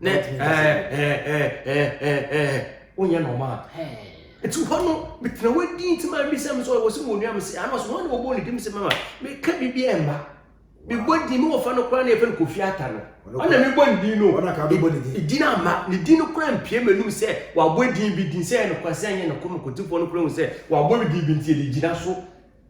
na wonyɛ normal nti hɔ no metena wadi nti ma bisa me sɛ wɔsɛ mewɔ nua me sɛ ana so hɔ ne wɔbɔɔ ne dim sɛ mama meka biribi ɛmma mebɔ din me wɔfa no koraa na yɛfɛ no kɔfi ata no ɔna mebɔ ne din no ɛdin ama ne din no koraa mpie m'anum sɛ wabɔ din bi din sɛ ɛnokwa sɛ ɛnyɛ nokorɔ mekɔtifoɔ no koraa hu sɛ wabɔ bi din bi nti ɛde gyina so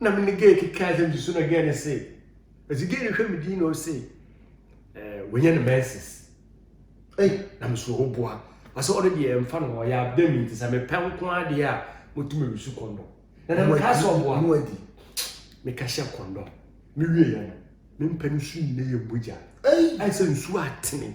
na me ne gay keka asɛm susu na gay no se ɛsi gay no hwɛ me din na ɔse eh, wɔnyɛ no menses ei na mesoro hɔ boa ɔsɛ ɔde deɛ ɛmfa no ɔyɛ abda mi nti sɛ mepɛ nko adeɛ a motumi mesu kɔndɔ na na meka sɛ ɔboa no adi meka hyɛ kɔndɔ mewieɛ no mempɛ no su nyina yɛ mogya ɛsɛ nsuo atene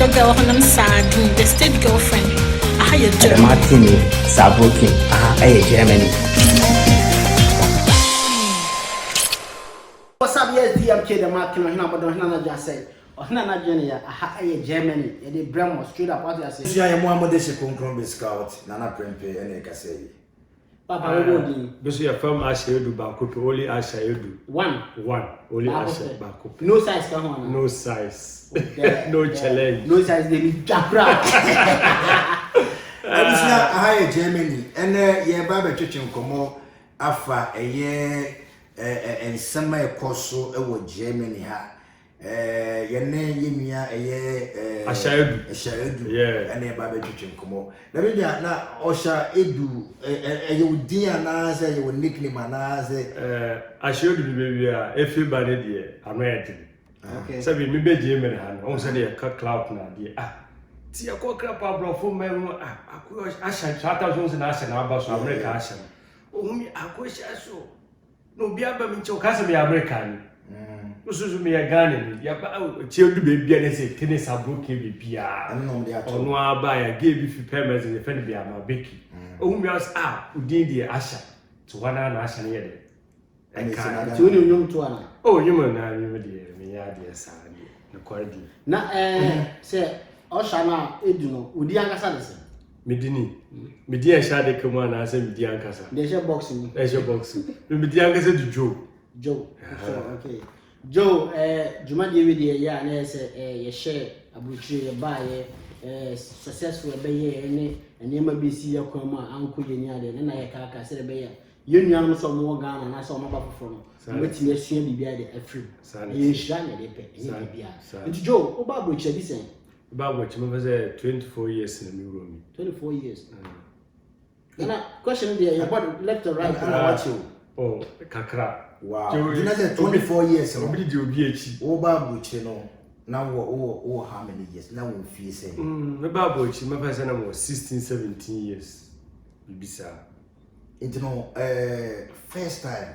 Your girl honam saa dum the state girlfriend aha yɛ Germany. Ɛdɛm ate ne saa broken aha ɛyɛ Germany. Wasabi yɛ DMK dɛm ate no hena bɔdɔ hena na dwa sɛ ɔhena na dwen yɛ aha ɛyɛ Germany yɛde brɛ mo straight up wate ase. Sua yɛ mo a mo de hye kronkron be scout nana prempeh ɛna ɛkasa yi. Papa wo bɔ din. Bi so yɛ fam ahyɛ edu baako pɛ only ahyɛ edu. One. One only ahyɛ baako pɛ. No size ka ho ana. No size. No challenge. No size de mi dwa kura. Abusua aha yɛ Germany ɛnɛ yɛ ba bɛ twetwe nkɔmɔ afa ɛyɛ nsɛm a ɛkɔ so wɔ Germany ha. Eh, yɛne yɛn nua ɛyɛ eh, ahyɛ edu ɛhyɛ edu ɛna ɛba abɛtwitwi nkɔmɔ na mi nua na ɔhyɛ edu ɛyɛ wo din anaasɛ ɛyɛ wo nickname anaasɛ. ahyɛ edu ni baabi a efi ba ne deɛ ano yɛ den sɛbi mi bɛ gye mene ha no ɔn sɛ deɛ ka cloud na adeɛ ah ti yɛ kɔ kra pa aborɔfo mɛ mu ah akɔ ahyɛ ahyɛ ata so ɔn sɛ na ahyɛ na aba so amerika ahyɛ no ohun mi akɔ hyɛ so. na obi aba mi nkyɛn ɔka sɛ meyɛ amerikani wosu so meyɛ ghanani yɛba akyire du baabi a ne sɛ te ne sa broke biribiaa ɔno aba yɛ gay bi fi pɛmɛ sɛ yɛfɛ no bi ama beki ɔhu mi ɔsɛ a wodin deɛ ahyɛ te hɔ naa na ahyɛ no yɛ dɛ ɛka nti wonim nnwom to ana o nnwom no naa nnwom deɛ meyɛ adeɛ saa deɛ nokware deɛ na ɛɛ sɛ ɔhyɛ no a ɛdu no wodi ankasa de sɛ mede ni mede a ɛhyɛ adaka mu anaasɛ mede ankasa deɛ ɛhyɛ box mu ɛhyɛ box mu mede ankasa de dwo dwo okay dwo dwumadeɛ wi deɛ ɛyɛ a na yɛ sɛ yɛhyɛ aburukyire yɛbaayɛ successful ɛbɛyɛ ɛne nneɛma bi si yɛ kwan mu a ankɔ yɛ ni adeɛ ne na yɛ kaaka sɛ ɛbɛyɛ yɛn nuanom sɛ wɔn wɔ ghana anaasɛ wɔn aba foforɔ no wɔbɛtumi asua biribi ayɛ de afiri mu ɛyɛ nhyira na ɛde pɛ ɛnyɛ biribiara nti dwo woba aburukyire bi sɛn Ba abɔkyi mo pɛ sɛ twenty four years na mi wura mi. Twenty four years. Nana question deɛ yɛ bɔ left or right. Ɛna wakyi o. Oh kakra. Wow. Gyina sɛ twenty four years no. Obi di obi akyi. Wo ba abɔkyi no na wɔ wɔ wɔ how many years na wɔ fie sɛ. Mm me ba abɔkyi mo pɛ sɛ na wɔ sixteen seventeen years. Bibi saa. Nti no ɛɛ eh, first time.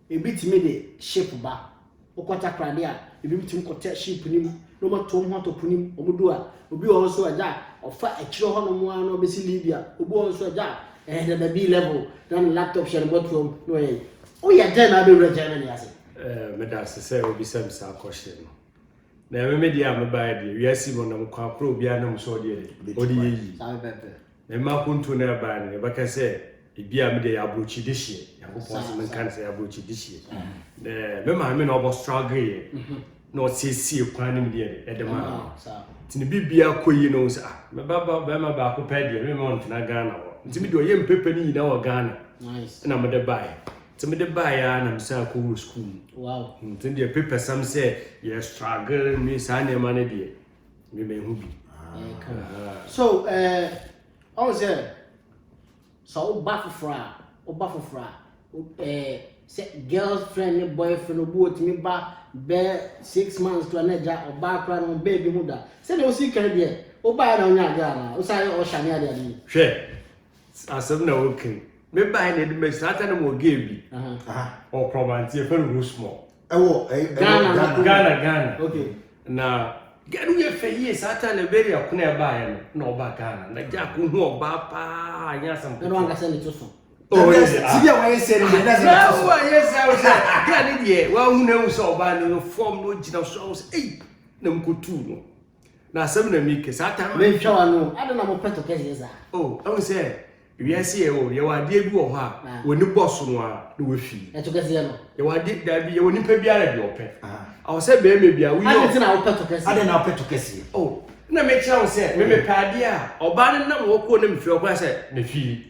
Ebi tumi de ship ba. Wokɔ Takoradi a, ebinom tumi kɔtɛ ship no mu na wɔatu wɔn ho atɔ po no mu. Wɔdu a, obi wɔ hɔ nso a, gya a, ɔfa akyire hɔnom ara na ɔbɛsi Libya. Obi wɔ hɔ nso a, gya a, ɛhɛ dɛ bɛ B-level na ne laptop hyɛ ne bɔtoa mu na ɔyɛ. Woyɛ dɛn na abɛwura Germany ase? Eh, meda ase sɛ wobisa me saa kɔhye no. Na ɛme me deɛ a mebaeɛ deɛ, wiase mu no, mekɔ akorɔ obiara nam sɛ ɔdeɛ deɛ, ɔde yɛ yie. Saa bɛpɛpɛ. Ɛmma apontow no ɛbae no yɛbɛka sɛ ebia me deɛ yɛ aburokyi dehyeɛ Nyankopɔn se menka no sɛ yɛ aburokyi dehyeɛ Dɛ me maame na ɔbɔ struggle yɛ na ɔsiesie kwan no mu deɛ ɛde ma no Nti ne bibia kɔ yie na ɔhu sɛ ah me ba ba bɛrima baako pɛ deɛ me ma ɔntena Ghana hɔ Nti me deɛ ɔyɛ mpɛpɛ no nyinaa wɔ Ghana ɛna mede baeɛ Nti mede baeɛ ara na mesan kɔ wɔ school mu Nti ne deɛ pɛpɛsɛm sɛ yɛ struggle ne saa nneɛma no deɛ Me me ho bi. So ɛɛ ɔn sɛ sɛ ɔba foforɔ a ɔba foforɔ a ɛɛ sɛ girlfriend ne boyfriend obi otumi ba bɛɛ six months to a na ɛgya ɔba akora no bɛɛ bi ho da sɛdeɛ osi kan deɛ ɔba yɛ na ɔnya agya na ɔsan yɛ ɔhyɛ ne adeade yi. Hwɛ asɛm na ɔkiri me ba yɛ na ɛdi mɛ srata ne mo gay bi ɔkɔmanti yɛ fɛn rose mɔ. ɛwɔ ɛwɔ ghana ghana ghana okay na gɛdu yɛ fɛ yie saa ta na bɛri akona ɛbaayɛ no na ɔba ghana na jack hu ɔbaa paa nyɛ asɛm kɔkɔ ɛno ankasa ne to so tibi a wɔyɛ sɛ no deɛ na sɛ na to so na wɔyɛ sɛ wo sɛ ghana deɛ wɔahu na ɛhu sɛ ɔbaa no no fɔm na ɔgyina so a wo sɛ ei na mkɔtuu no Na asɛm na mi ke, saa time a. Mentwa w'ano o, adɛn na mopɛ to kɛseɛ saa? O, ahu sɛ, wiase yɛ o, yɛwɔ adeɛ bi wɔ hɔ a, w'ani bɔ so no ara na w'afi. To kɛseɛ no. Yɛwɔ adeɛ, daabi, yɛwɔ nipa biara deɛ ɔpɛ. Ɛwɔ sɛ bɛɛma bi a, woyɛ o. Adɛn nti na wopɛ to kɛseɛ? Adɛn na wopɛ to kɛseɛ? O, na mekyerɛ wo sɛ, me mepɛ adeɛ a, ɔbaa no nam wɔ kɔɔ na mefiri hɔ koraa sɛ, me fii.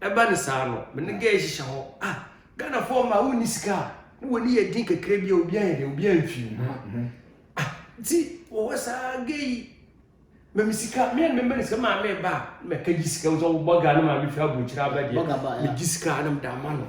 Ɛba no saa no, me ne guy hyehyɛ hɔ. Ah, Ghanafoɔ mmaa, wonni sika a, ne wɔn ani yɛ den kakra bi a, obi ayɛ dɛ, obi amfi wo ho. Ah, nti wɔ hɔ saa, guy yi, ma me sika, me a mɛma no sika, maame ba a, na mɛka gye sika, wo sɛ wɔbɔ guy na maame fi aburokyire aba deɛ, megye sika na mede ama no.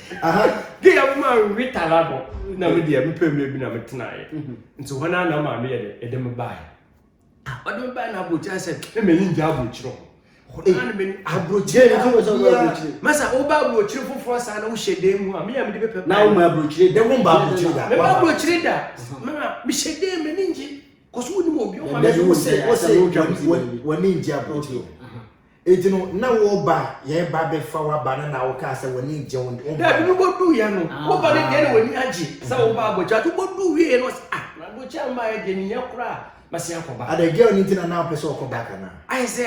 Deɛ ma nwe tala no na me deɛ mepɛ mmerɛ bi na metenaeɛ mhm. nti hɔ no na maame yɛ de ɛde me baeɛ ah, ɔde me baeɛ na aburokyerɛ sɛ ɛmɛni ngya aburokyerɛ aburokyire masa woba aburokyire foforɔ saa na wohyɛ dan mu a meyɛ mede bɛpɛ na woma aburokyire da womba aburokyire da meba aburokyire da mama mehyɛ dan m'ani ngye kɔ so wonim obi ɔma me so wo sɛ wo sɛ w'ani ngye aburokyire Enti no, na wo ba, yɛn ba bɛfa w'aba no na wokaa sɛ w'ani gye wo ba no. Daabi, no wobɛduuiɛ no, wo ba no deɛ na w'ani agye sɛ wo ba abɔkyaa nti wobɛduuiɛ no ɔse ah, na abɔkyaa mmaeɛ deɛ mennya koraa, mɛsan akɔba. Adɛn, girl no nti na na wopɛ sɛ ɔkɔba ka no a? Ayɛ sɛ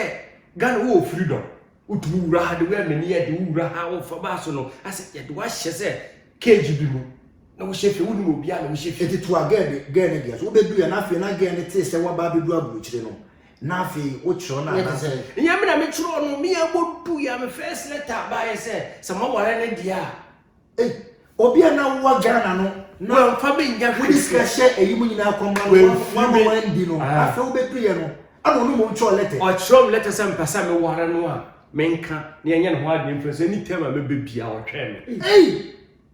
Ghana wowɔ freedom, wotumi wura ha, the way a m'ani yɛ de, wowura ha, wofa baa so no, ayɛ sɛ yɛde wo ahyɛ sɛ cage bi mu na wohyɛ fie, wonim obiara na wohyɛ fie. Enti toa girl no deɛ so. Wobɛduuiɛ no afei na girl no tee sɛ woaba abɛduru aburokyire no, Na afei wokyerɛw no anaasɛ. Nyɛ me na me kyerɛw no, me a mo dui a me first letter a baayɛ sɛ sɛ mo aware no deɛ a. Ei, obi a na wowɔ Ghana no na. Wamfa me nyɛ hwee. Wode sika hyɛ ayi mu nyinaa kɔm ma no, wama wandi no, afei wobɛduiɛ no, ɛna ɔno mmom kyerɛw letter. Ɔkyerɛw me letter sɛ mpɛ sɛ me ware no a, menka na yɛnyɛ ne ho adwene mprɛnsa, anytime a mɛba biara ɔtwɛn me. Ei!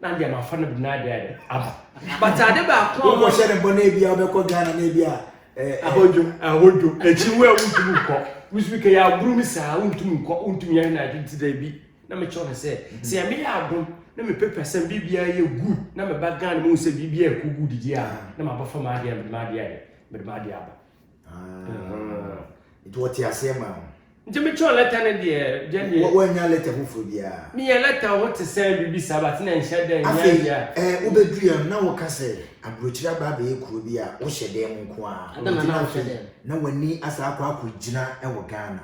Na deɛ mafa no bena deɛ ayɛ aba. But ade baako a. Wokɔ hyɛ ne bɔ na ebi a wobɛkɔ Ghana na ebi a. Ahodwo ahodwo akyi wo a wontumi nkɔ wosumi kɛ yɛ agoro mi saa wontumi nkɔ wontumi yɛ na adwene ti da bi na mekyɛw ne sɛ sɛ yɛ meyɛ agoro na mepɛpɛ sɛ biribiara yɛ good na meba Ghana mu sɛ biribiara ɛkɔ good di a na mabɛfa m'adeɛ mede m'adeɛ ayɛ mede m'adeɛ aba nti wɔte aseɛ ma ho nti metwerɛ lɛta no deɛ gyɛdeɛ woanya lɛta foforɔ biaa meyɛ lɛta ho te sɛ biribi saa bate na nhyɛ dɛ afei eh, wobɛduruiɛ no na woka sɛ aburokyerɛ aba abɛyɛ kuro bi a wohyɛ dɛn mu nko a na w'ani asa akɔ akɔgyina wɔ ghana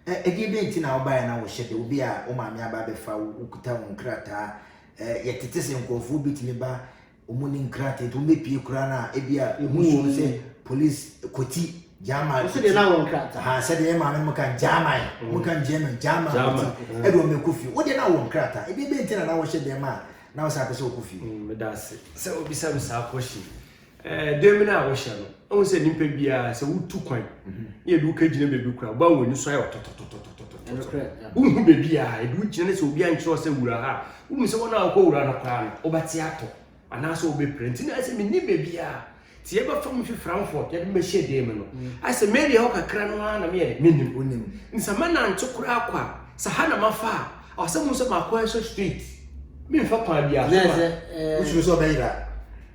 ɛdeɛ bɛn nti na wobaeɛ na wohyɛ dɛ obi a wo maame aba abɛfa wokuta wo nkrataa yɛtete sɛ nkurɔfoɔ bɛtumi ba Wɔn ni nkrataa nti wɔn bɛ pie koraa na ebi a ehu wɔ mu sɛ police koti German koti. Sɛdeɛ na wɔn nkrataa. Ahan sɛdeɛ yɛ maame no mo kan German mm. mo kan German German koti ɛde wɔn bɛ kɔ fie o deɛ na wɔn nkrataa ebi ebe nti na na wɔhyɛ dɛm a na wɔsan apɛ sɛ wɔkɔ fie. Meda ase sɛ obisa mi saa kɔhye ɛɛ dɛm na wɔhyɛ no. Wohu sɛ nnipa biara sɛ wotu kwan na yɛde wo kɛgyina baabi kora wobaa wɔn ani so ayɛ tɔtɔtɔtɔtɔtɔ wohu baabi a yɛde wo gyina ne sɛ obi ankyerɛ sɛ wura ha wonim sɛ wɔn a wokɔ wura no koraa no wobɛte atɔ anaasɛ wobɛpira nti na sɛ menni baabi a nti yɛbɛfa me fi Frankfurt yɛde mɛhyɛ dan mu no asɛ mɛdi ɛhɔ kakra no ara na meyɛ dɛ mennim wonim nsa mɛnante koraa kɔ a sɛ ha na mafa a ɔsɛ mu sɛ makɔ ɛhyɛ street memfa kwan biara so ma wosuro sɛ ɔbɛyera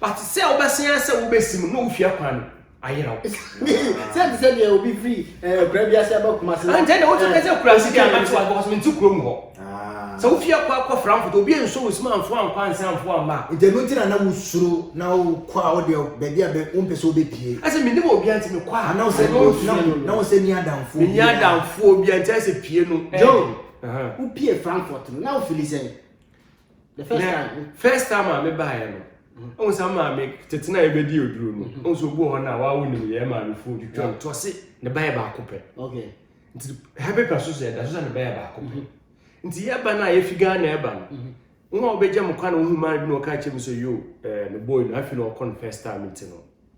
But sɛ wobɛsen ara sɛ wobɛsi mu na wo fie kwan no ayera wo. Sɛ te sɛ deɛ obi firi ɛkura bi ase aba Kumasi na. Nkyɛn deɛ wotu kɛse kura ase bi a mɛte wa because mente kurom hɔ. Sɛ wo fie kɔ akɔ Frankfurt obi nso wo sima nfo ankɔ ansa anfo amma. Nti ɛno nti na na wo suro na wo kɔ a wo deɛ baabi a wo mpɛ sɛ wo bɛ pie. Ɛsɛ me nim obia nti me kɔ a. Na wo sɛ na wo sɛ ni adamfoɔ obia. Ni adamfoɔ obia nti ɛsɛ pie no. Joe wo pie Frankfurt no na wo fili sɛn? the first na time first time a mebaeɛ no ɔhu sɛ maame tete no a yɛbɛdi oduro no ɔhu sɛ obu wɔ hɔ no a wawo nim yɛ maame fuo twitwa no tɔ se ne ba yɛ baako pɛ okay nti ha bɛpa so so yɛda so sɛ ne ba yɛ baako pɛ nti yɛba no a yɛfi ghana ɛba no wɔn a wɔbɛgya mo kwan na wɔhu maa bi na wɔka kyerɛ mu sɛ yo eh, ne boy no afi na ɔkɔ no first time nti no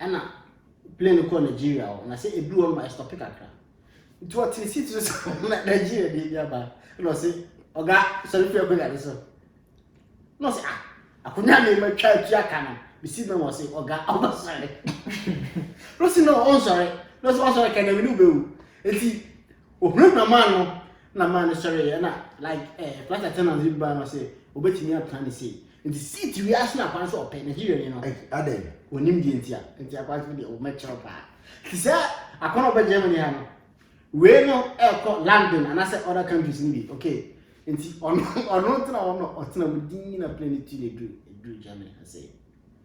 ɛna plane no kɔɔ nigeria hɔ na sɛ ɛduru hɔ no ma ɛstɔpe kakra nti ɔte ne seat so sɛ na nigeria deɛ bi aba na ɔse ɔga sɔre firi akonnwa no so na ɔse ah akonnwa no matwa atua ka no mesi na ɔse ɔga ɔbɛsɔre na ɔse na ɔnsɔre na ɔse ɔsɔre ka na mene wobɛwu nti ohurahura maa no na maa no sɔreeɛ na like ɛɛ eh, flight attendant bi baa no sɛ obetumi atena ne sei nti seat wi ase na akwan so ɔpɛ nigeria ni no adɛ onim deɛ ntia nti akwan so deɛ ɔmɛkyerɛw paa te sɛ akwan ɔbɛ germany ha no wei no ɛkɔ eh, london anaasɛ other countries ni bi okay nti ɔno ɔno tena hɔ no ɔtena mu din na plane ti na edu edu germany ha sɛ.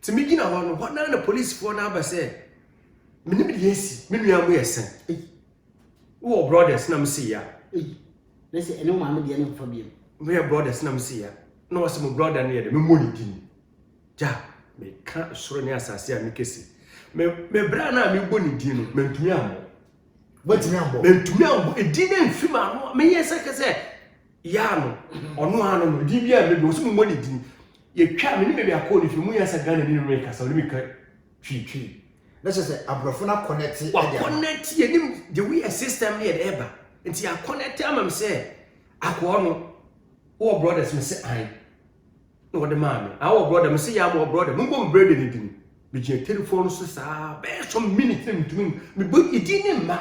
Te me gyina hɔ no hɔ naa na policefoɔ no aba sɛ me ne me deɛ asi me nua mo yɛ sɛn wowɔ brothers na me se ya ne sɛ ɛne wo maame deɛ ne mfa biam moyɛ brothers na me se ya na wɔsɛ mo brother no yɛ dɛ memmɔ ne din gya meka soro ne asase a mekɛsi mebrɛ a na mebɔ ne din no mantumi ammɔ watumi ambɔ mantumi ambɔ ɛdin no mfi ma ano meyɛ sɛ kɛ sɛ yaa no ɔno a no no din bi a mmiri bi ɔsɛ mo mmɔ ne din yɛtwa me ne baabi akɔɔ ne fie mu yɛ sɛ Ghana ni no rekasa ɔne meka twitwi na kyerɛ sɛ aborɔfo no akɔnɛte wakɔnɛte yɛnim the way a system ne yɛde ɛba nti akɔnɛte ama me sɛ akɔɔ no wɔ brothers me sɛ an na wɔde maa me awɔ brɔda me se yɛ ama brɔda mo bɔ brɛde ne din megyina tirifoɔ no so saa bɛyɛ some minutes na metumi mebɔ ɛdi ne mma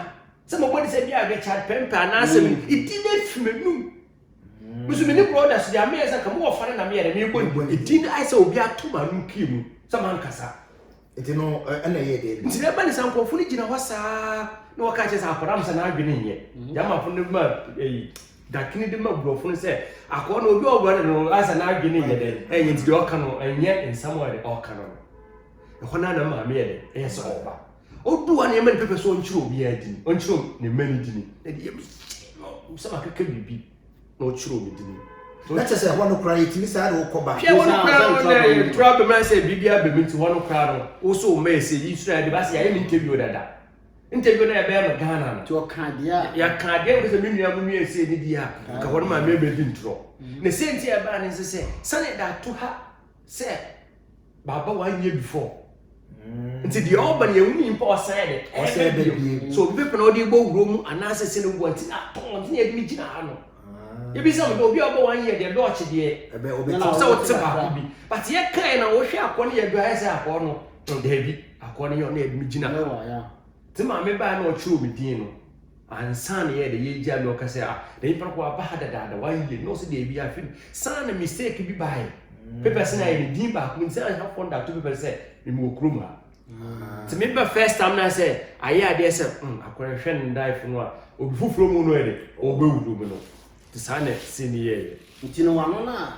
sɛ mɔbɔ ne sɛ bi a richard pɛmpɛ anaasɛ me ɛdi no afiri m'anum nso me ne brɔda so deɛ ameyɛ sɛ ka mowɔ fa no na meyɛ dɛ mebɔ ne ɛdi no ayɛ sɛ obi ato ma no kii mu sɛ mankasa Nti no ɛna ɛyɛ dɛ bi. Nti na ɛba ne sa nkurɔfo no gyina hɔ saa na wɔka kyerɛ sɛ akwadaa no sɛ n'adwene nyɛ. Mhm. Germanfo no ma ɛyi eh, dakene de ma burɔfo no sɛ akɔɔ no obi a ɔwɔ no no asɛ n'adwene nyɛ dɛ ɛnyɛ nti deɛ ɔka no ɛnyɛ nsɛm a ɛde ɔka no no ɛhɔ no na maame yɛ dɛ ɛyɛ sɛ ɔba ɔdu a nneɛma no pɛpɛ sɛ ɔnkyerɛ obiara din ɔnkyerɛ ne mma no din ɛde yɛ sɛ makeka biribi na ɔkyerɛw me din. Na kyerɛ sɛ ɛhɔ no koraa yɛtumi saa de wokɔ ba. Hwɛ ɛhɔ no koraa no na yɛto abam na sɛ biribi aba mu nti hɔ no koraa no woso mma yɛ sɛ yi sura de ba sɛ yɛayɛ me interview dada interview na yɛbɛyɛ no Ghana no yɛka adeɛ no sɛ me nua mo nua ɛsɛ ne bi a nka hɔ no ma mɛmɛdi ntorɔ na sɛ nti ɛbaa ne nsɛ sɛ sɛne da to ha sɛ baaba wanyɛ before nti deɛ ɔba no yɛhu ne nyimpa ɔsan de ɛbɛ bio so obi bɛpɛ na ɔde bɔ wuro mu anaasɛ sɛ no wɔ nti na tɔn nti na yɛde ne gyina ha no ah. yɛbisa me dɛ obi a ɔbɔ one year deɛ dɔɔkye deɛ ɛnam sɛ wote baako bi but yɛkae na wohwɛ akɔ ne yɛdwa ayɛ sɛ akɔ no daabi akɔ no yɛ ɔna yɛde ne gyina Dze Maame bae na ɔkyerɛɛw me dzin no, ansaana ne yɛɛ dɛ yeegyia no, ɔkaa sɛ, Ah, ne nyimpa no kɔ, ɔaba ha dadaada, ɔayeyɛ no, na ɔse dɛ ebi afi no, saan na mistake bi bae, papers no ayɛ ne dzin baako, me ndzin annhwɛ fɔn da ato paper no sɛ me mowɔ kurom ha. Ntsi meba first time no ayɛsɛ ayɛ adeɛ sɛ mm akɔrɛ hwɛ ne ndaefo no a obi foforɔ mu no yɛ dɛ ɔbɛwuru mu no. Ntsi saa na scene no yɛɛyɛ. Ntsi no wano no a.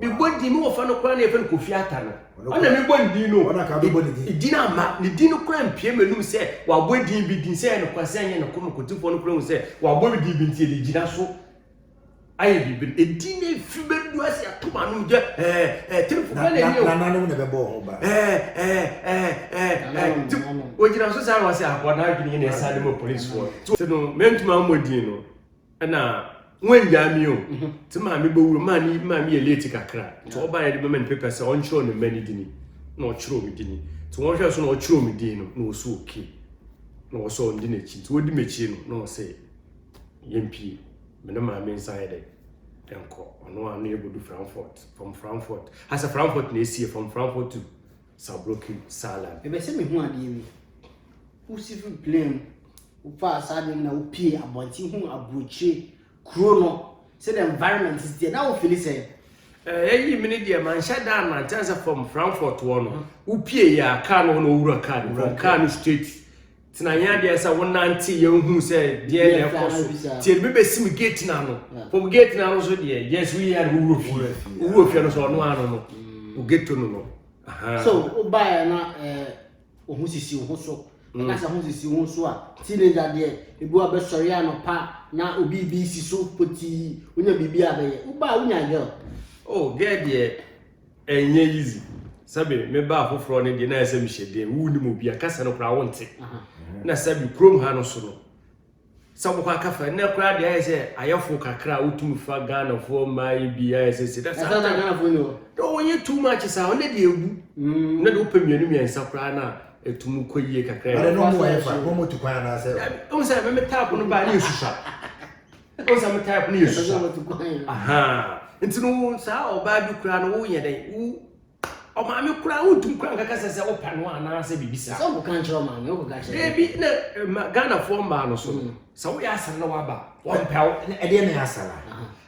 Mebɔ ndin me wɔfa no koraa na yɛfrɛ no Kofi Atta no ɔna mebɔ ndin no edin ama ne din no koraa mpue m'anum sɛ wabɔ edin bi din sɛ ɛyɛ no kwa sɛ ɛnyɛ no kwa makotifoɔ no koraa hu sɛ wabɔ bi din bi nti yɛde gyina so ayɛ biribi no edin no efiri bɛdu ase ato m'anom gya ɛɛ ɛɛ tiri fukura na ɛni o nananom na ɛbɛbɔ ɔho ba ɛɛ ɛɛ ɛɛ ɛɛ ti ogyina so saa na wɔsɛ akɔ n'adwene yɛ na ɛsan de ma polisifoɔ sɛ no mɛntuma mmɔ din no ɛna wɔngyaa me o mhm. nti maame bɛwuro maame maame yɛ late kakra nti ɔbaa yɛde bɛma ne pepa sɛ ɔnkyerɛw ne mma ne dini na ɔkyerɛw me dini nti wɔhwɛ so na ɔkyerɛw me din no na ɔsɛ oke na ɔsɛ ɔndi n'akyi nti ɔdi m'akyi no na ɔsɛ yɛmpie me ne maame nsa yɛ dɛ ɛnkɔ ɔno a na yɛbɛdu frankfurt from frankfurt asɛ frankfurt na ɛsie from frankfurt to Sabroki Salan. Mepɛ sɛ mehu adeɛ bi. Wosi firi plane mu, wofaa saa adeɛ no na wopiee abɔnten huu aburokyire, kuro no, sɛ the environment si teɛ, na wofili sɛn? Ɛyi me ne deɛ manhyɛ da anante ansa from Frankfurt hɔ no, wopiee yɛ a kaa no hɔ na wowura kaa no fam, kaa no straight. Tena yɛn adeɛ sɛ wonante yɛn hu sɛ deɛ na ɛkɔ so tie ebi bɛsi mi gate na ano fam gate na ano so deɛ yɛn so yɛ no wuro fie wuro fie no so ɔno ano no o mm. gate no no. so o ba yɛ na ɛɛ ohun sisi ohun so ɛna mm. sɛ ohun sisi ohun so a teenager deɛ ebi wa bɛ sɔre anɔpa na obi bi si so pɔtii onya biribi abɛyɛ o ba o nya girl. o oh, girl deɛ. Ɛnyɛ easy. Sɛbe me ba afoforɔ no deɛ na ayɛ sɛ mehyɛ den. Wo nim obi a kasa no koraa wonte. Na sɛbe kurom ha no so no sɛ wokɔ akafa nnɛ koraa deɛ ayɛ sɛ ayɛfo kakra a wotumi fa Ghanafoɔ mmaa yi bi ayɛ sɛ sɛ. Ɛsɛ na Ghanafoɔ ni hɔ. Na wɔnyɛ too much saa ɔnɛ deɛ ebu. Mm. Na deɛ wopɛ mmienu mmiɛnsa koraa na ɛtum kɔ yie kakra. Ɔnɛ na ɔmo ayɛ fa na ɔmo tu kwan anaasɛ. Ɛhu sɛ mɛmɛ taapo no baa ne esusa. o sɛ mo type no yɛ susa ahaa nti no saa ɔbaa bi koraa no woyɛ dɛn wo ɔmaame koraa wotum koraa nkaka sɛ sɛ wopɛ no anaasɛ biribi saa sɛ woka nkyerɛ ɔmaame wokɔka kyerɛ bi na eh, ghanafoɔ mmaa no so no mm. sɛ woyɛ asare na waba wɔmpɛw ɛdeɛ na yɛ asara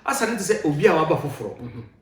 asare te sɛ obi a waba foforɔ mhm.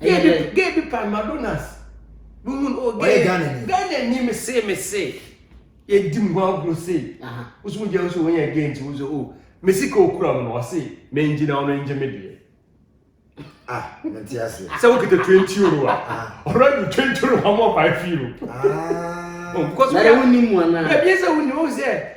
Gay bi gay bi pa Madonas. Mumu no o gay. Ghana ni. Ghana ni me se me se. Ye di mu ho agro se. Aha. Usu je usu won ye gay nti usu o. Me si ka okura mu no ɔse me ngi na ɔno ngi me deɛ. Ah, me ti ase. Sɛ wo kita 20 euro a. Ɔrɔ du 20 euro ma mo 5 euro. Ah. Because we are. Na wo ni mu ana. Baby sɛ wo ni wo sɛ.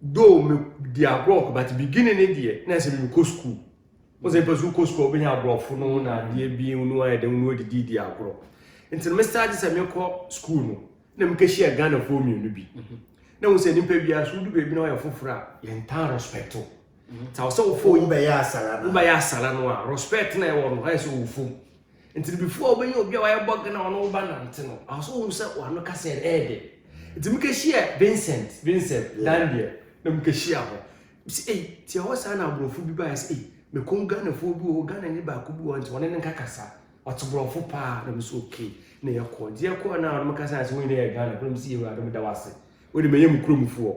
Though me di aborɔk but beginning ne deɛ na ɛsɛ me kɔ school. Mo sɛ nipa so kɔ school ɔbɛnya aborɔfo no na adeɛ bi no ayɛ dɛm no adidi di agorɔ. Nti no me start sɛ me kɔ school no na me kɛhyia Ghana foɔ mmienu bi. Na wɔn sɛ nipa bi aso du baabi na ɔyɛ foforɔ a yɛn tan respect o. Nti awɔ sɛ wofɔ yi. Wobɛyɛ asala no. Wobɛyɛ asala no a respect na ɛwɔ no ayɛ sɛ wofɔ mu. Nti no before wobɛnya obi a wayɛ bɔge na ɔne wo ba nante no, ɛwɔ sɛ wohu sɛ w'ano kasa yɛ ɛyɛ dɛ. Nti mekɛhyia Vincent, Vincent, dan deɛ, na mekɛhyia hɔ. Mese, ei, ti ɛhɔ saa na aborɔfo bi baeɛ sɛ, ei, mekɔn Ghanafoɔ bi wɔ hɔ, Ghanani baako bi wɔ hɔ, nti ɔne ne nka kasa. Ɔte borɔfo paa, na mese, okay, na yɛkɔ. Nti yɛkɔɔ na ɔne me kasa sɛ, wo nyina yɛ Ghanafoɔ, na mese, yɛ Awurade meda wo ase, wode mɛyɛ mo kuromfoɔ.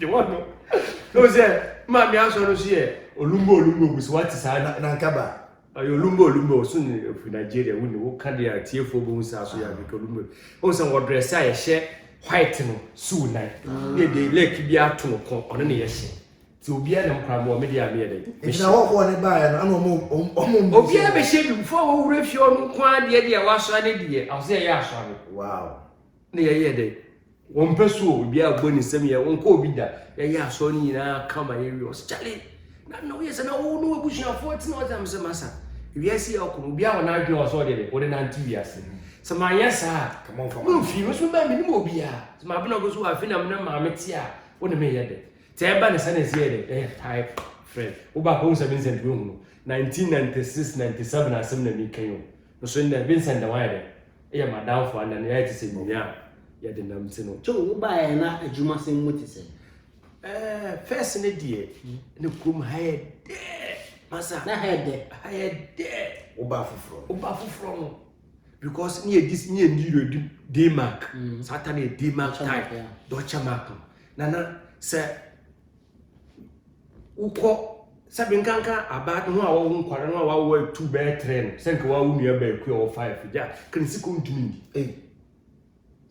ne hɔ no na o sɛ maame asɔ no so yɛ olumbo olumbo bu so wate saa na na nka ba ɔyɛ olumbo olumbo ɔso ne ofi Nigeria wo ne wo ka de a tiefo bo nsa so yɛ abirika olumbo o sɛ wɔ dress a yɛhyɛ white no suw nan ne de lake bi ato no kɔn ɔno ne yɛhyɛ ti obiara nam kora mo ɔmede a meyɛ dɛ ɛgyina hɔ kɔɔ ne baeɛ no ana ɔmo ɔmo obiara bɛhyɛ bi before wɔwura fie ɔno nko ara deɛ deɛ wasɔa ne deɛ ɔsɛ ɛyɛ asɔre wow na yɛyɛ dɛ wɔmpɛ so o obiara bɔ ne nsam yɛ wɔnkɔ obi da yɛyɛ asɔre no nyinaa kama yɛwie ɔsɛ kyale na na woyɛ sɛ na wo ne wabusuafoɔ tena ɔsɛ m sɛ masa wiase yɛ ɔkɔm obiara wɔ n'adwene wɔ sɛ ɔde de wode nante wiase sɛ manyɛ saa a memfii me so mema menim obiara sɛ mabena ɔbɛ so wɔ afe na mena maame te a wo ne meyɛ dɛ sɛ ɛba ne sɛ ne sɛ yɛ dɛ ɛyɛ tae frɛ wobaakɔ hu sɛ me nsɛntumi hunu 1996 97 asɛm na mekɛn o Nso nnɛ, me nsɛndɛ wɔn ayɛ dɛ yɛ m'adamfo a nnɛ no yɛayɛ te sɛ nua a yɛde nam nti no. Joe, wo baeɛ na adwumasɛm mu te sɛn? Ɛɛ, first no deɛ, na kurom ha yɛ dɛ, masa. Na ha yɛ dɛ? Ha yɛ dɛ. Wo ba foforɔ no? Wo ba foforɔ no. Because ne yɛ dis, ne yɛ ni yɛ day mark. Saa ta ne yɛ day mark time, dɔkyɛ mark no. Na na sɛ. Wokɔ sɛ benkanka abaa no ho a wɔwo nkware no a wawo atu bɛyɛ trɛ no sɛ nka wawo nua baaku a wɔfa afi gya kane sika ntumi ndi ei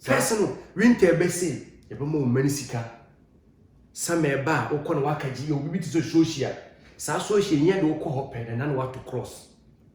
fɛs no winter ɛbɛse yɛbɛma wo mani sika sama ɛba a wokɔ na wakagye yɛ obi bi te sɛ sohyia saa sohyia nyɛ de wokɔ hɔ pɛ na na na wato cross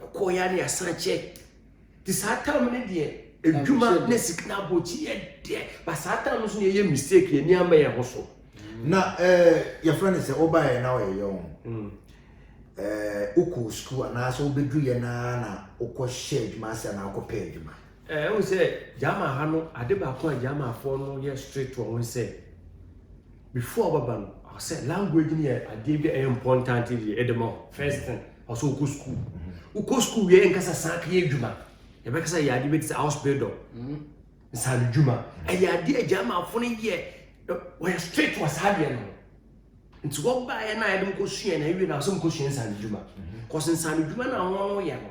Ɛkɔɔeɛ ara na yɛasan kyɛ. Nti saa tam no deɛ, adwuma ne sika no abɔkyi yɛ dɛ. But saa tam no nso na yɛyɛ mistake, yɛn ani amma yɛn ho so. Na eh, yɛfrɛ no sɛ wobaeɛ na ɔyɛ yɔn. Mm. Eh, wokɔɔ sukuu anaasɛ wobɛduruiɛ no ara na wokɔhyɛ adwuma ase anaa wokɔpɛ adwuma? Eh, ɛhu sɛ German ha no, ade baako a Germanfoɔ no yɛ straight wɔ ho sɛ, Before ɔbɛba no ɔwɔ sɛ language no yɛ adeɛ bi a ɛyɛ important deɛ ɛde ma wo first thing ɔwɔ sɛ wokɔ sukuu wokɔ sukuu wie nka sɛ san kɛyɛ adwuma yɛbɛka sɛ yɛ adeɛ bi te sɛ house builder nsaano dwuma ɛyɛ adeɛ a gyamaafo no yɛ wɔyɛ straight wɔ saa adeɛ no nti wɔbaeɛ no a yɛde mokɔ sua na awie na ɔsɛ mokɔ sua nsaano dwuma kɔso nsaano dwuma no a wɔn no yɛ no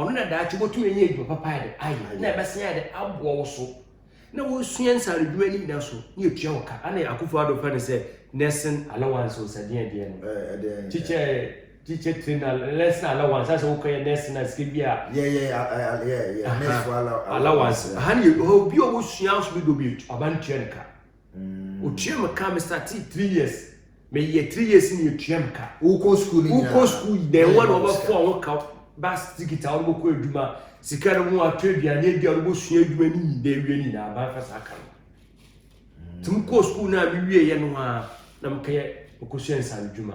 ɔno na daakye bɔtumi anya adwuma papa yɛ de ayɛ na ɛbɛsɛn yɛ de aboa wo so Na wosua nsaanodwuma no nyina so na yɛtua wo ka. Ana Akufo Addo frɛ no sɛ nursing allowance o, sɛ deɛn deɛn no. Ɛɛ ɛdeɛn ɛ. Teacher teacher training al nursing allowance asɛ wo kɔyɛ nurse no a sika bi a. Yɛ yɛ a ɛ al yɛ yɛ nurse foɔ allow allowance. Allowance, ahaa ne yɛ hɔ obi a ɔwɔ sua asɔre dɔ bi yɛ tu aba no tua ne ka. Otua me ka me startee three years meyɛ three years ni otua me ka. Wokɔ sukuu ni nyinaa. Wokɔ sukuu na ɛwɔ na ɔbɛfo ɔho ka bus ticket a ɔde bɛkɔ adwuma sika no ho ato aduane adi a ɔde bɛsua adwuma ni nyinaa awie ni nyinaa ban fa saa ka no. Nti mekɔɔ sukuu no a mewie yɛ no a na mekɛyɛ mekɔsua nsaano dwuma.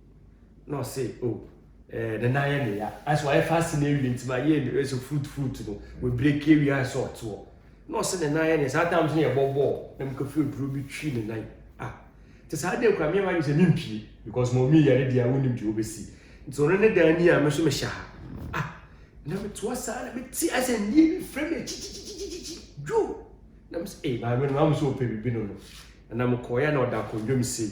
na ɔse o eh, ne nan yɛ ne ya ayɛ sɛ wayɛ fast no awie nti ma yɛ ayɛ sɛ fruit fruit no wɔ breki awie ayɛ sɛ ɔtoɔ na ɔse ne nan yɛ ne saa tam so ne yɛbɔ bɔɔl na meka firi aduro bi twi ne nan ah te saa deɛ kura meɛ wadwe sɛ mempie because ma ɔmi yɛre deɛ a wonim deɛ wobɛsi nti ɔno ne dan ni a me so mehyɛ ha ah na metoa saa na mete asɛ nnie bi frɛ me kyikyikyikyikyikyi dwo na mesɛ ee maame no mamu sɛ ɔpɛ biribi no no na mekɔeɛ na ɔda akɔndwam sei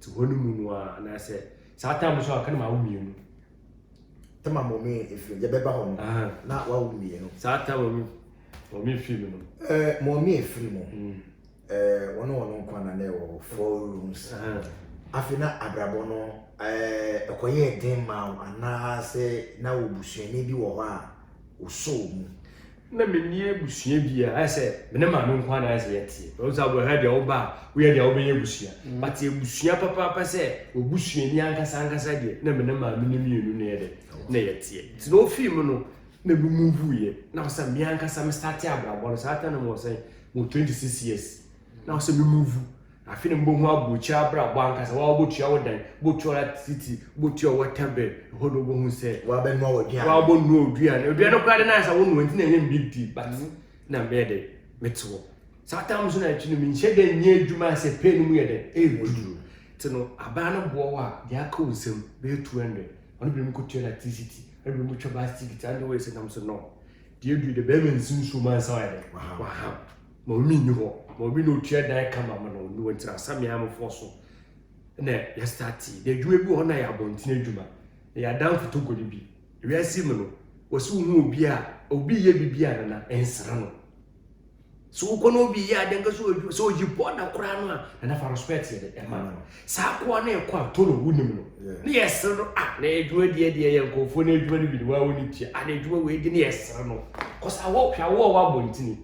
te hɔ no mu no ara, anaasɛ saa tam no so anka na mawo mmienu. Tam a mome efiri yɛ bɛba hɔ no, na wawo mmienu. Saa tam a mome efiri mu no. Ɛɛ mome efiri mu. Ɛɛ wɔn ne wɔn nkwa na na ɛwɔ four rooms. Afei na abrabɔ no ɛɛ ɛkɔyɛɛ den ma wo anaasɛ na wo busuani bi wɔ hɔ a ɔsɔ wo mu. na menni abusua biaa ayɛ sɛ me ne maame nkoaa na ayɛ sɛ yɛteɛ because a wɔ ha deɛ wo ba a woyɛ deɛ wobɛyɛ abusua but abusua papaapa sɛ obusuani ankasa ankasa deɛ na me ne maame ne mmienu na yɛdɛ na yɛteɛ nti na ofii mu no na bi mu vuiɛ na sɛ me ankasa me starte abrabɔ no saa ta no wɔ sɛ wɔ 26 years Na ɔsɛ bi mu vu. Afi na mobɛhu aburokyire abrabɔ ankasa. Wo a wobɛtua wo dan, wobɛtua ɔlɛktrisiiti, wobɛtua wɔta bil, ɛhɔ na wobɛhu sɛ. Wo a wobɛnoa w'aduane. Wo a wobɛnoa w'aduane. Aduane no koraa de no ayɛ sɛ wonoa nti na ɛnyɛ me big deal but na meyɛ dɛ mete hɔ. Saa tam so na akyi no menhyɛ dɛ nyɛ adwuma a sɛ pay no mu yɛ dɛ ɛreduru. Nti no aban no boa wo a deɛ aka wo nsam bɛyɛ 200 ɔno berɛ mu kɔtua ɔlɛktrisiiti, ɔno berɛ mu twa bus ticket, ɔno deɛ woyɛ sɛ nam so no. Deɛ ɛduru deɛ bɛrima nsi nsuo mu ansa wayɛ dɛ? Waham. Maame nni hɔ. Maame na otua dan ka ma me no. Mewɔ Ntirasa Meamofoɔ so na yɛstartee. Na adwuma bi wɔ hɔ na yɛ abɔnten adwuma. Na yɛadan fotokɔ no bi. Wiase yi mu no, wɔse wohu obi a, obi reyɛ biribi a, Nana, nsra no. Sɛ wokɔ na obi reyɛ ade nka sɛ ɔredwuma, sɛ ɔyi bɔɔda koraa no a, Nana fa respect yɛ de ma no. Saa ko a na yɛkɔ a, Tono, wonim no. Ne yɛsere no, ah, na adwuma deɛ deɛ yɛ nkurɔfoɔ no adwuma no bi na wɔa wɔne tua. Ah, na adwuma wei de ne yɛsere no. Kɔ sɛ awɔ, hwɛ awɔ a ɛwɔ abɔntene.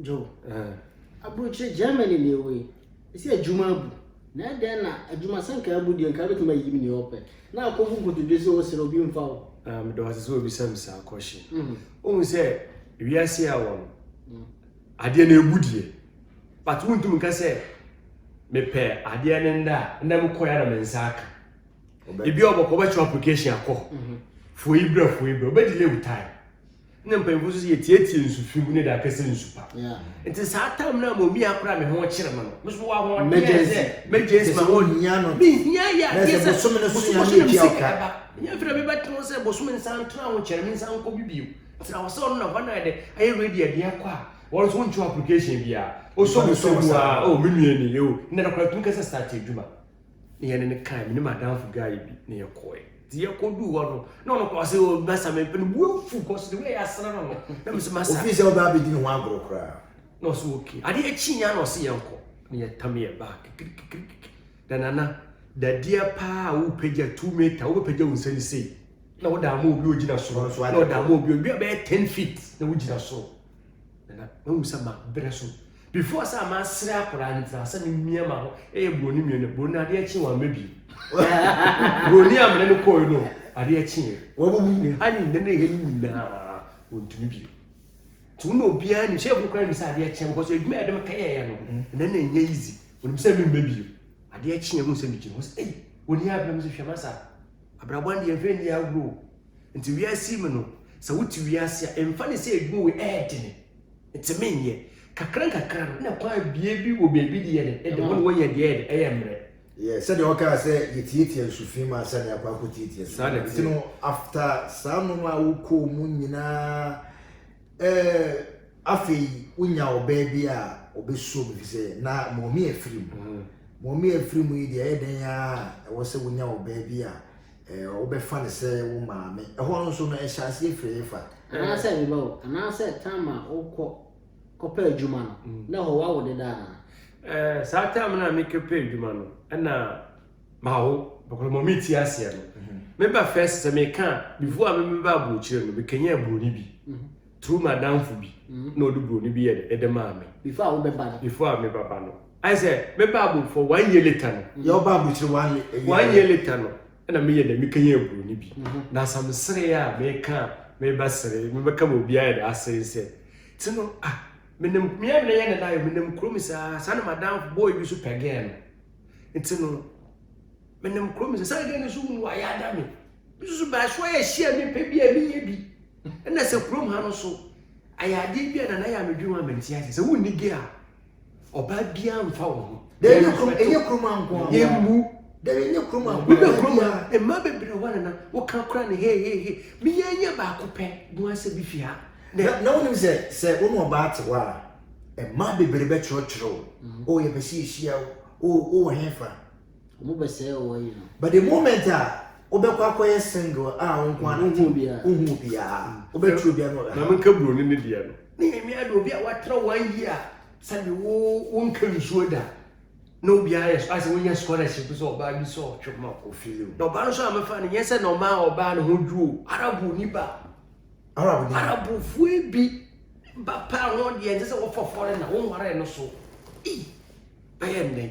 Joe, aburokyire Germany na ɛwɔ yi, ɛsɛ adwuma abu. Na ɛdɛn na adwuma sɛ nka abu deɛ nka bɛtumi ayi mu nea ɔpɛ. Na akɔfu nkotodwe sɛ ɔsrɛ obi mfa wo. Ah, meda wase sɛ obisa me saa question. Mm. Ohun sɛ wiase a wɔ no, mm. adeɛ na ebu deɛ, but wontum nka sɛ mepɛ adeɛ ne nda a nda mu kɔɛ na me nsa aka. Ebi ɔbɔkɔ ɔbɛtwerɛ application akɔ. Mm-hmm. Foyi brɛ foyi brɛ ɔbɛdi lay time. Na mpanyimfo nso sɛ yɛtiatia nsu fi mu na yɛde akɛse nsu pa. Nti saa tam no a Momi akora me ho kyere me no, me nso wɔ ahoɔden sɛ mɛgyesi ma wɔn. Mehia yɛ adeɛ sɛ bosome no so na me sika ɛba. Menya mfiri a mebɛtena hɔ sɛ bosome nsa ntena ho nkyɛre me nsa nkɔ bi bio. Tena hɔ sɛ ɔno na hɔ na yɛde ayɛ ready adeɛ akɔ a wɔn nso wonkyerɛ application biara. Wosɔ wo sɛ mu a, oh me nua ni, oh, nnɛ no koraa tumi kasa start adwuma. na yɛne no kae me ne m'adamfo guy bi na yɛkɔe nti yɛkɔduu hɔ no na ɔno kora sɛ ɔbɛsa mempɛ no buafu kɔ so de wei asra no no na mesɛ masa ofii sɛ wobɛ abɛdi ne ho agorɔ koraa na ɔsɛ okay adeɛ akyi ya na ɔsɛ yɛnkɔ na yɛtam yɛ baa kikirikikiriki na nana dadeɛ paa a wopagya two meter wobɛpagya wo nsa no sei na wode ama obi ogyina soro na ɔde ama obi obi a bɛyɛ ten feet na wogyina soro Na mahu sɛ mabrɛ so. Before sɛ a masrɛ akwadaa no tira sɛ memmia ma ho ɛyɛ buroni mmienu no buroni no adeɛ kye wɔn ama bi buroni a mene no kɔɔ no adeɛ kye yɛ wɔabubu ne ha ne nne ne yɛ nyinaa wɔntumi bi nti wona obiara nim sɛ ɛbo kora nim sɛ adeɛ kye because adwuma a yɛde me kɛyɛɛyɛ no ɛna na ɛnyɛ easy wɔnim sɛ memmɛ bio adeɛ kye yɛ ho sɛ megyina hɔ sɛ ei wɔni abena me sɛ hwɛ ma saa abrabɔ no deɛ mfɛ nni agorɔ Nti wiase yi mu no sɛ wote wiase a mfa ne sɛ adwuma wei ɛyɛ dene nti menyɛ. Kakra nkakra no na kwan abie bi wɔ baabi de yɛ dɛ ɛde wo ne wanya deɛ ɛyɛ dɛ ɛyɛ mmerɛ. Yes sɛdeɛ ɔkaa sɛ yɛtiatia nsufi ma ansa na yɛakɔ akɔ tiatia Saa na ɛteɛ. no after saa nom a wokɔɔ mu nyinaa ɛɛ afei wonya ɔbaa bi a ɔbɛsuo mu ɛfiri sɛ na mɔmi afiri mu. Mɔmi afiri mu yi deɛ ɛyɛ dɛn ara a ɛwɔ sɛ wonya ɔbaa bi a Ɛɛ, wobɛfa no sɛ wo maame. Ɛhɔ no nso no, ɛhyɛ aseɛ firi hefa? Anaasɛ me ba o. Anaasɛ tam a wokɔ kɔpɛ adwuma no, na ɛhɔ woawo deda anaa? Ɛɛ, saa tam no a mekɔpɛ adwuma no, ɛna mawo. Because mɔmi te aseɛ no, me ba first sɛ meka a, before a me meba aburokyire no, mekɔnya aburoni bi. Through m'adamfo bi na ɔde buroni bi yɛ de maa me. Before a wobɛba no. Before a mebaba no. Ayɛ sɛ mebaa abrokyire for one year later no. Yɛ ɔbaa abrokyire one year later. One year later no ɛna meyɛ dɛ mekɛyɛɛ buroni bi. Na as I'm sere a meka a meba sere mebɛka ma obi ayɛ dɛ asere sɛ. Ti no ah menim me a meyɛ ne dayo menim kurom saa saa na m'adamfo boy bi so pɛ girl no. Nti no menim kurom sɛ saa girl no so hu no wayɛ ada me. Mesusu baa so ayɛ hyia me pɛ bi a menyɛ bi. Nna sɛ kurom ha no so ayɛ adeɛ bi a nana yɛ a medwene ho a mente ase. Sɛ wonni gay a, ɔbaa biara mfa wo ho. Daabi ɛnyɛ kurom ɛnyɛ kurom ha nko ara. Yɛmmu. Daabi ɛnyɛ kurom ha nko ara. Wobɛ kurom ha mmaa bebree wɔ ha nana woka kora no hee hee hee me yɛ nyɛ baako pɛ no ara sɛ bi fi ha. Na na wonim sɛ sɛ wo ne ɔbaa te hɔ a mmaa bebree bɛkyerɛkyerɛ wo oh yɛpɛ sɛ yɛhyia wo oh wowɔ hefa Ɔmo bɛsɛɛ wɔ yi no. But the moment a wobɛkɔ akɔyɛ single a wo nko ara te wohu obiara wobɛturu obiara no ɔbɛha. Maame nka buroni ne deɛ no. Nehemia de obi a watra one year sɛde wo wonka nsuo da na obiara yɛ ayɛ sɛ wonya scholarship sɛ ɔbaa bi sɛ ɔtwe ma wo na ɔbaa no nso amɛfa no nyɛ sɛ na ɔma ɔbaa no ho dwuo arabo ni ba arabo ni arabofoɔ bi ba paa ho deɛ ɛnsɛ sɛ wɔfa fɔre na wonwaree no so bɛyɛ nnɛ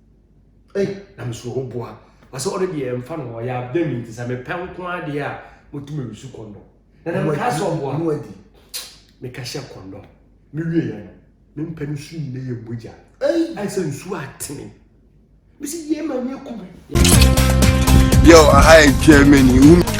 Ei, na mesuro ho boa. Ɔsɛ ɔde deɛ ɛmfa no ɔyɛ abda mi nti sɛ mepɛ nko ara deɛ a motu me wisu kɔndɔ. Na na meka sɛ ɔboa. No adi. Meka hyɛ kɔndɔ. Mewie yɛ no. Me mpɛ no su nyina yɛ mogya. Ei. Ayɛ sɛ nsuo atene. Mesi yie ma ne aku me. Yo, aha yɛ Germany.